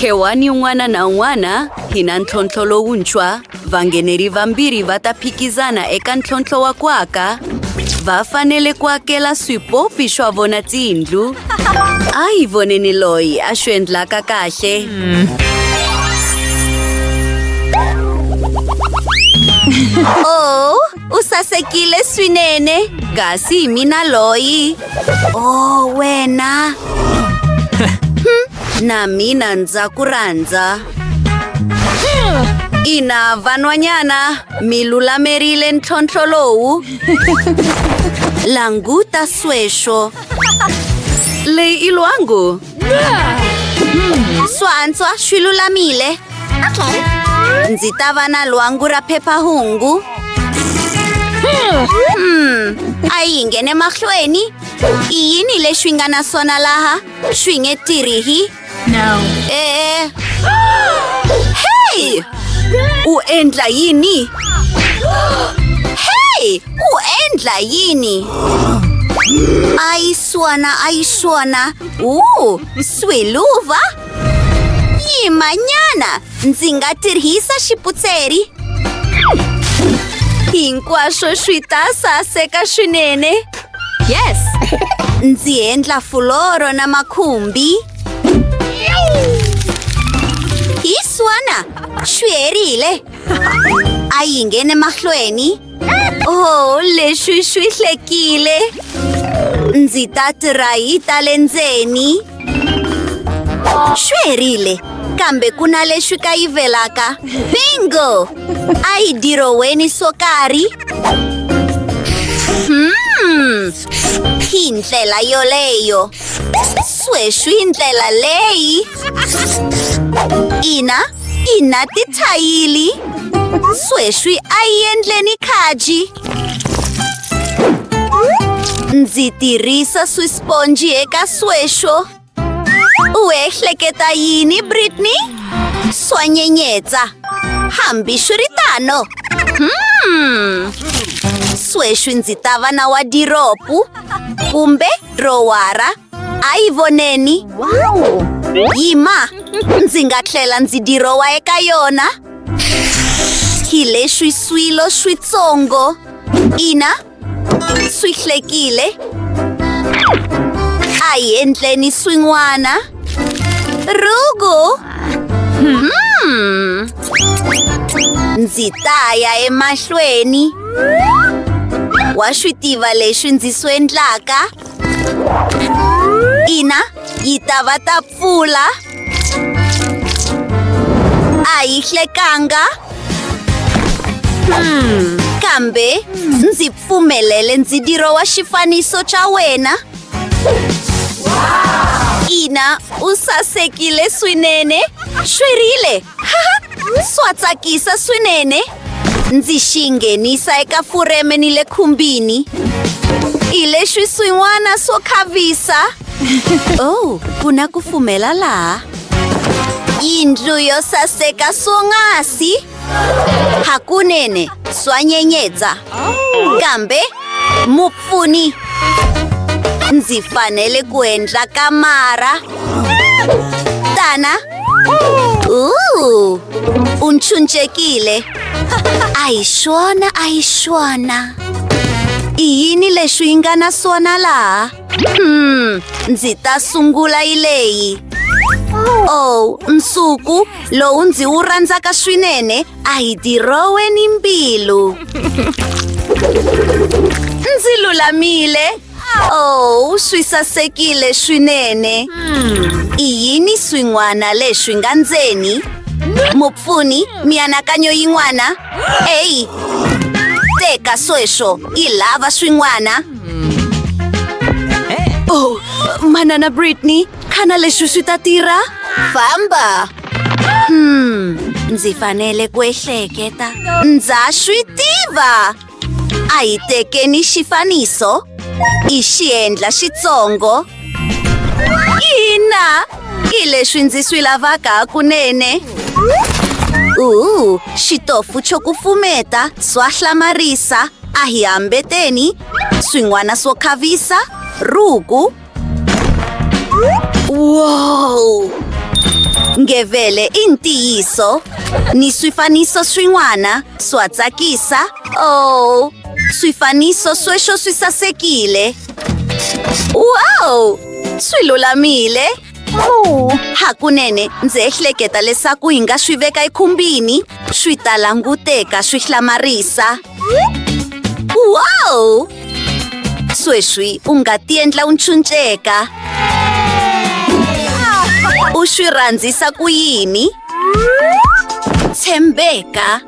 Khewani un'wana na un'wana hi na ntlhontlho lowuntshwa. Vangheneri vambirhi va ta phikizana eka ntlhontlho wa ku aka. Va fanele ku akela swipopi swa vona tiyindlu. A hi voneni loyi a swi endlaka kahle. Oh. U sasekile swinene, kasi hi mina loyi. Oh, wena. Hmm, na mina ndza ku rhandza. Ina vanwanyana mi lulamerile ntlhontlho lowu. Languta sweswo. Leyi i lwangu. Swantswa swi lulamile. Ndzi ta va na lwangu ra phepha-hungu. Hmm, a yi nghene mahlweni. I yini leswi nga na swona laha? Swi nge tirhi. E-e. Hey! U endla yini? Hey! Ku endla yini? Ayiswona, ayiswona. Uu, swiluva? Yimanyana, ndzi nga tirhisa xiputseri. Hinkwaswo swi ta saseka swinene. Yes! Ndzi endla fuloro na makhumbi. Hi swona, swi herile. A yi nghene mahlweni. Oh, leswi swi hlekile. Ndzi ta tirayi ta le ndzeni. Swi herile, kambe ku na leswi kayivelaka. Bingo! A yi diroweni swo karhi. Hmm. Hi ndlela yoleyo. Sweswi ndlela leyi ina ina tithayili sweswi a yi endleni khaji ndzi tirhisa swisponji eka sweswo u ehleketa yini britney swa nyenyetsa hambi swi ri tano hmm. sweswi ndzi ta va na wadiropu kumbe Rowara, a yi voneni. Wow! Yima, ndzi nga tlhela ndzi dirowa eka yona. Hi leswi swilo switsongo. Ina, swi hlekile. A hi endleni swin'wana. Rugu! Hmm. Ndzi ta ya emahlweni. Wa swi tiva leswi ndzi swi endlaka? Ina, yi ta va ta pfula. A yi hlekanga. Hmm. Kambe ndzi pfumelele ndzidirowa xifaniso xa wena. ina u sasekile swinene xwerile swa tsakisa swinene ndzi xi nghenisa eka fureme ni le khumbini hi leswi swin'wana swo khavisa oh ku na ku fumela laha yindlu yo saseka swonghasi hakunene swa nyenyetsa kambe mupfuni ndzi fanele ku endla kamara tana Ooh, u nchuncekile a hi swona a hi swona i yini leswi yi nga na swona laha Hmm, ndzi ta sungula yi leyi. Oh, nsuku lowu ndzi wu rhandzaka swinene a hi dirowe ni mbilu. Ndzi lulamile. Oh, swi sasekile swinene. I yini swin'wana leswi nga ndzeni? Mupfuni, mianakanyo yin'wana? Eyi, teka sweswo, yi lava swin'wana. Oh, manana Britney, ka na leswi swi ta tirha? Famba! Hmm, ndzi fanele ku ehleketa. Ndza swi tiva! A hi tekeni xifaniso, i xiendla xitsongo. Ina, hi leswi ndzi swi lavaka hakunene. Uhu, xitofu xo kufumeta, swa hlamarisa, A hi hambeteni swin'wana swo khavisa ruku. Wow! Ngevele i ntiyiso ni swifaniso swin'wana swa tsakisa. Oh, swifaniso sweswo swi sasekile. Wow! Swi lulamile. hakunene ndzi ehleketa leswaku hi nga swi veka ekhumbini swi ta languteka swi hlamarisa wow sweswi u nga tiendla u ntshunxeka u swi rhandzisa ku yini tshembeka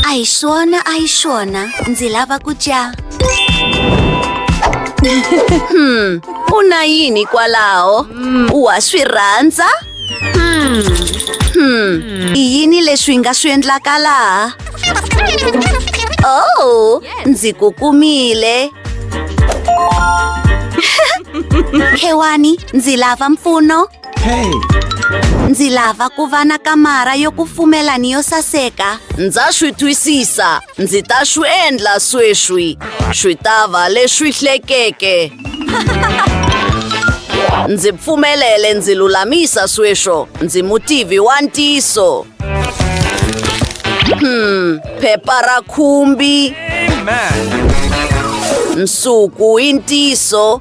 a hi swona a hi swona ndzi lava ku dya hmm u na yini kwalaho wa swi rhandza hmm i yini leswi nga swi endlaka laha oh ndzi ku kumile khewani ndzi lava mpfuno Hey! Ndzi lava ku va na kamara yo kufumela ni yo saseka. Ndza swi twisisa. Ndzi ta swi endla sweswi. Swi ta va leswi hlekeke. Ndzi pfumelele ndzi lulamisa sweswo. Ndzi mutivi wa ntiso. Hmm, phepha ra khumbi. Amen. Nsuku i ntiso.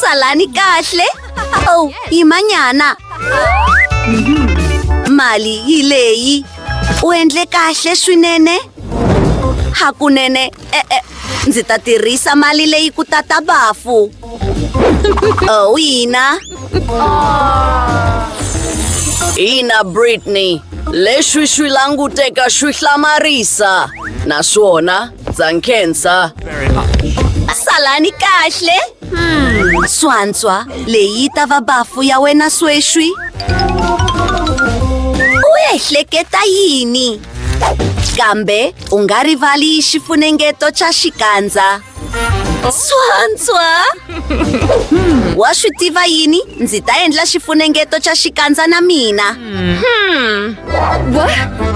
Salani kahle. Oh, hi manyana. Mali hi leyi. U endle kahle swinene. Hakunene, e e ndzi ta tirhisa mali leyi ku tata bafu. Oh, ina. Ina Britney, leswi swi languteka swi hlamarisa naswona Ndza nkhensa. Salani kahle. Hmm. Swantswa, leyi yi ta va bafu ya wena sweswi. U ehleketa yini? Kambe u nga rivali xifunengeto xa xikandza. Swantswa! Wa swi tiva yini? Ndzi ta endla xifunengeto xa xikandza na mina. Hmm.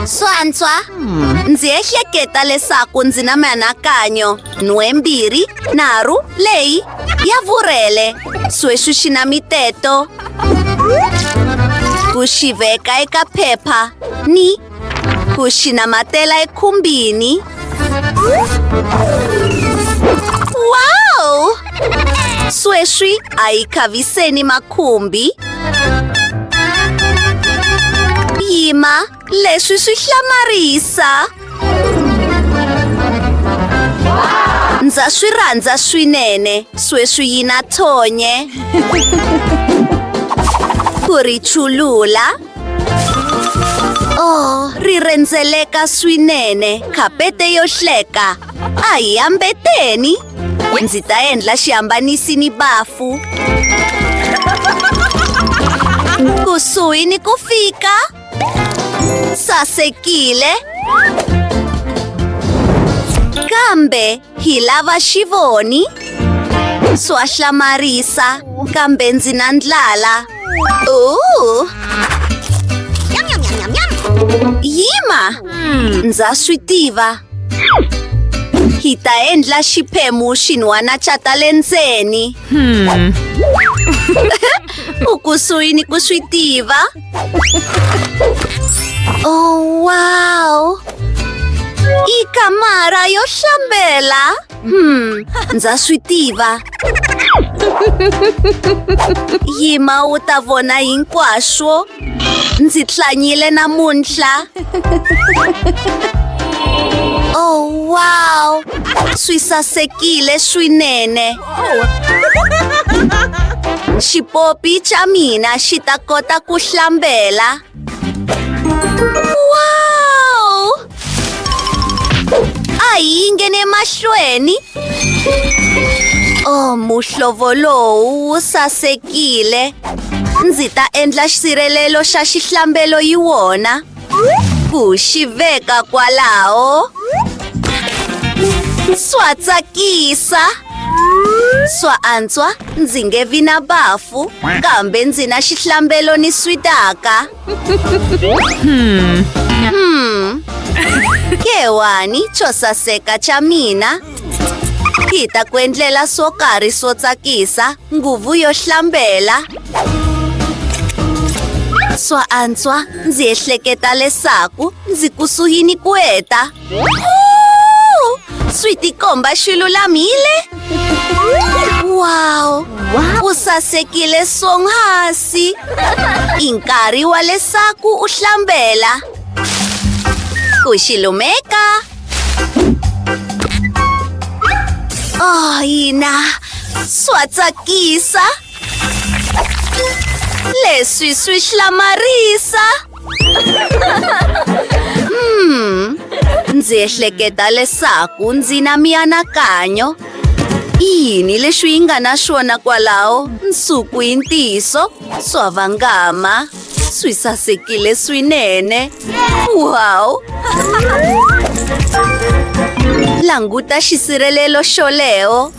Swantswa, ndzi ehleketa leswaku ndzi na mianakanyo nhwembirhi nharhu leyi ya vurhele sweswi xi na miteto ku xi veka eka phepha ni ku xi namatela ekhumbini Wow! Sweswi a hi khaviseni makhumbi. Yima, leswi swi hlamarisa. Ndza swi rhandza swinene, sweswi yi na thonye. Ku ri chulula. Oh, ri rhendzeleka swinene. Khapete yo hleka. A hi hambeteni. Ndzi ta endla xihambanisi ni bafu. Kusuhi ni ku fika. Sasekile. Kambe Hi lava xivoni swa hlamarisa kambe ndzi na ndlala uh. yima hmm. ndza swi tiva hi ta endla xiphemu xin'wana xa ta le ndzeni hmm. u kusuhi ni ku swi tiva Oh, wow! I kamara yo shambela! Hmm, ndza swi tiva. Yima u ta vona hinkwaswo. Ndzi tlanyile namuntlha. Oh, wow! Swi sasekile swinene. Xipopi xa mina xi ta kota ku hlambela. Wow! A yi nghene mahlweni. Oh, muhlovo lowu wu sasekile. Ndzi ta endla xisirhelelo xa xihlambelo yi wona. ku xi veka kwalaho swa tsakisa swa antswa ndzi nge vi na bafu kambe ndzi na xihlambelo ni switaka hmm. hmm. kewani xo saseka xa mina hi ta ku endlela swo karhi swo tsakisa nguvu yo hlambela swa antswa ndzi ehleketa leswaku ndzi kusuhini ku heta swi tikomba xi lulamile wow u sasekile swonghasi i nkarhi wa leswaku u hlambela ku xi lumeka Oh, ina swa tsakisa leswi swi hlamarisa hmm ndzi ehleketa leswaku ndzi na mianakanyo yini leswi yi nga na swona kwalaho nsuku yi ntiyiso swa vangama Swi sasekile swinene. Wow! Languta xisirhelelo xoleo.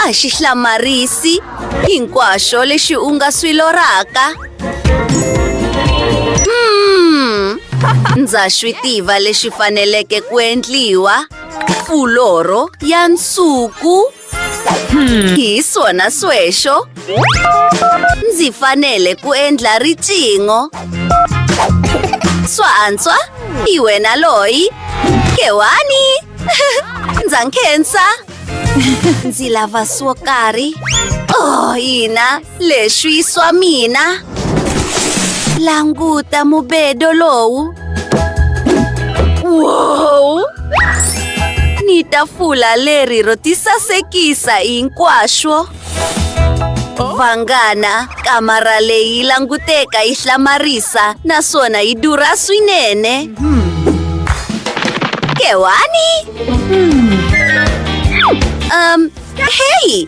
A xi hlamarisi hinkwaswo lexi u nga swi lorhaka. Hmm, ndza swi tiva lexi faneleke ku endliwa. Fuloro ya nsuku. Hmm. Hi swona sweswo. Ndzi fanele ku endla riqingho. Swa antswa? Hi wena loyi? Kewani? Ndza nkhensa. Ndzi lava swo karhi. Oh, hina. Leswi swa mina. Languta mubedo lowu. Wow! Ni tafula leri ro tisasekisa hinkwaswo. Vanghana, kamara leyi languteka yi hlamarisa naswona yi durha swinene. Kewani? Um, heyi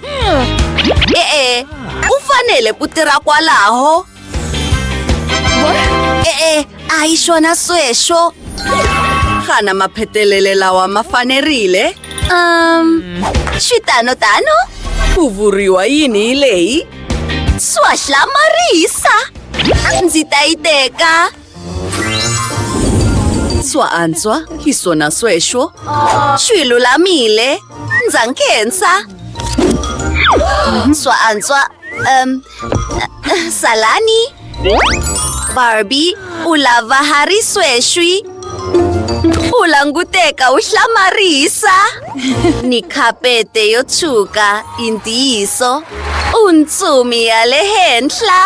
e-e ku fanele ku tirha kwalaho e-e a hi swona sweswo xana maphetelele lawa ma fanerile um xitano tano ku vuriwa yini hi leyi swahlamarisa ndzi ta yi teka Antswa antswa, hi swona sweswo. Swi lulamile. Ndza nkhensa. Antswa antswa, um, eh, salani. Barbie, u lava ha ri sweswi. U languteka u hlamarisa. Ni khapete yo tshuka, i ntiyiso. U ntsumi ya le henhla.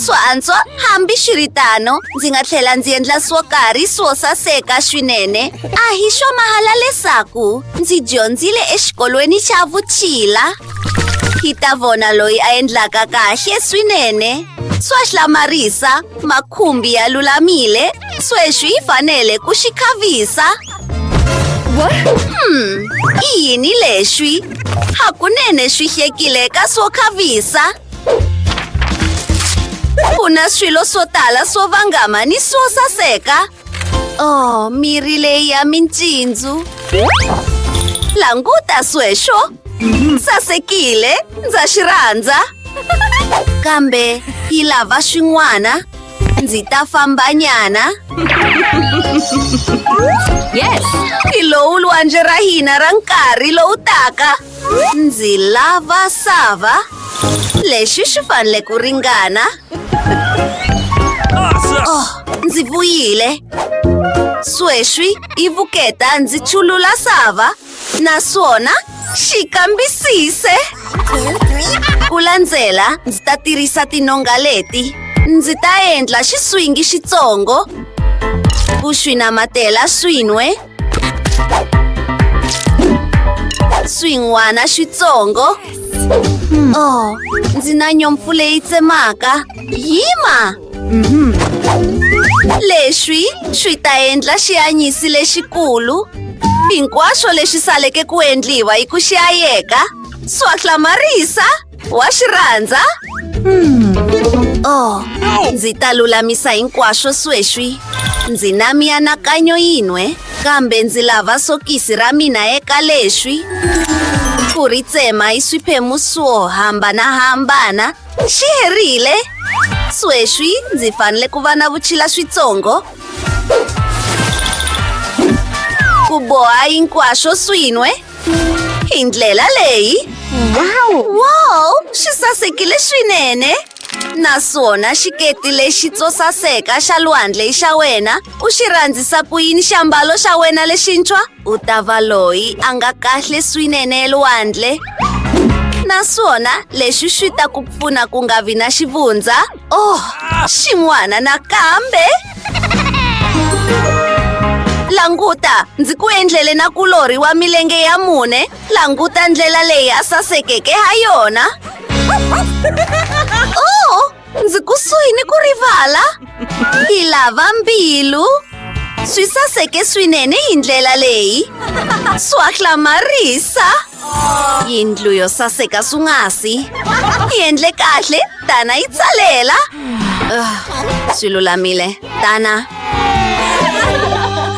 swo antswa hambi swi ri tano ndzi nga tlhela ndzi endla swo karhi swo saseka swinene a hi swa mahala leswaku ndzi dyondzile exikolweni xa vutshila hi ta vona loyi a endlaka kahle swinene swa hlamarisa makhumbi ya lulamile sweswi yi fanele ku xi khavisa Hmm, i yini leswi? Hakunene swi hlekile ka swo khavisa. Ku na swilo swo tala swo vangama ni swo saseka. Oh, mirhi leyi ya mincindzu. Languta sweswo. Sasekile, ndza xi rhandza. Kambe yi lava swin'wana. Ndzi ta fambanyana. Yes! Hi lowu lwandle ra hina ra nkarhi lowu taka. Ndzi lava sava. Lexi xi fanele ku ringana. Oh, ndzi vuyile. Sweswi i vuketa ndzi chulula sava. naswona xi kambisise ku landzela ndzi ta tirhisa tinonga leti ndzi ta endla xiswingi xitsongo ku swi namatela swin'we swin'wana xitsongo oh ndzi na nyompfu leyi tsemaka yima Leswi swi ta endla xianyisi lexikulu. Hinkwaswo leswi saleke ku endliwa hi ku xiyayeka, swa hlamarisa, wa swi rhandza. Oh, ndzi ta lulamisa hinkwaswo sweswi. Ndzi na mianakanyo yin'we, kambe ndzi lava sokisi ra mina eka leswi. Ku ri tsema hi swiphemu swo hambanahambana Xi herile. Sweswi ndzi fanele ku va na vutshila switsongo. Ku boha hinkwaswo swin'we. Hi ndlela leyi. Wow! Xi sasekile swinene. Naswona xiketi lexi tso saseka xa lwandle i xa wena. U xi rhandzisa ku yini xiambalo xa wena lexintshwa? U ta va loyi a nga kahle swinene elwandle naswona leswi swi ta ku pfuna ku nga vi na xivundza oh xin'wana nakambe languta ndzi ku endlele na kulorhi wa milenge ya mune languta ndlela leyi a sasekeke ha yona Ndzi kusuhi ni ku rivala hi lava mbilu swi saseke swinene hi ndlela leyi swa hlamarisa yindlu yo saseka swungasi yi endle kahle tana yi tsalela ah, swi lulamile tana